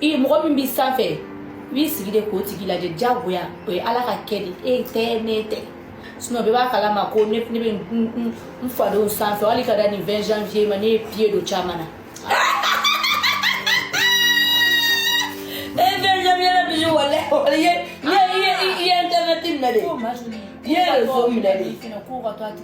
i mɔgɔ min b'i sanfɛ i b'i sigi de k'o tigi lajɛ diyagoya o ye ala ka kɛ de e tɛ ne tɛ sinɔn bɛɛ b'a kalama ko ne ne bɛ n fadenw sanfɛ hali ka da nin 20 janvier ma ne ye pied don caman na e 20 janvier la Bijou walayi walayi ye ye ye ye internet minɛ dɛ ye réseau minɛ dɛ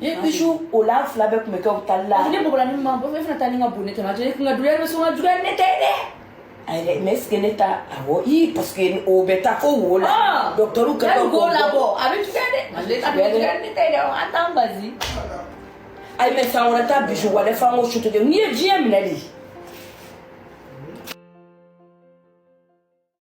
i ye Bijou o la fila bɛɛ tun bɛ kɛ u tali la ne bɔgɔla ni ma bɔ e fana taa ni ka bon ne tɛmɛ a tɛ ne kun ka duya bɛ sɔn ka duya ne tɛ dɛ ayi mais est-ce que ne ta awɔ i parce que o bɛ taa fo wo la docteur ka dɔn ko la bɔ a bɛ tuya dɛ a bɛ tuya ne tɛ dɛ an t'an bazi ayi mais san wɛrɛ ta Bijou walayi f'an ko sutu de n'i ye diɲɛ minɛ dɛ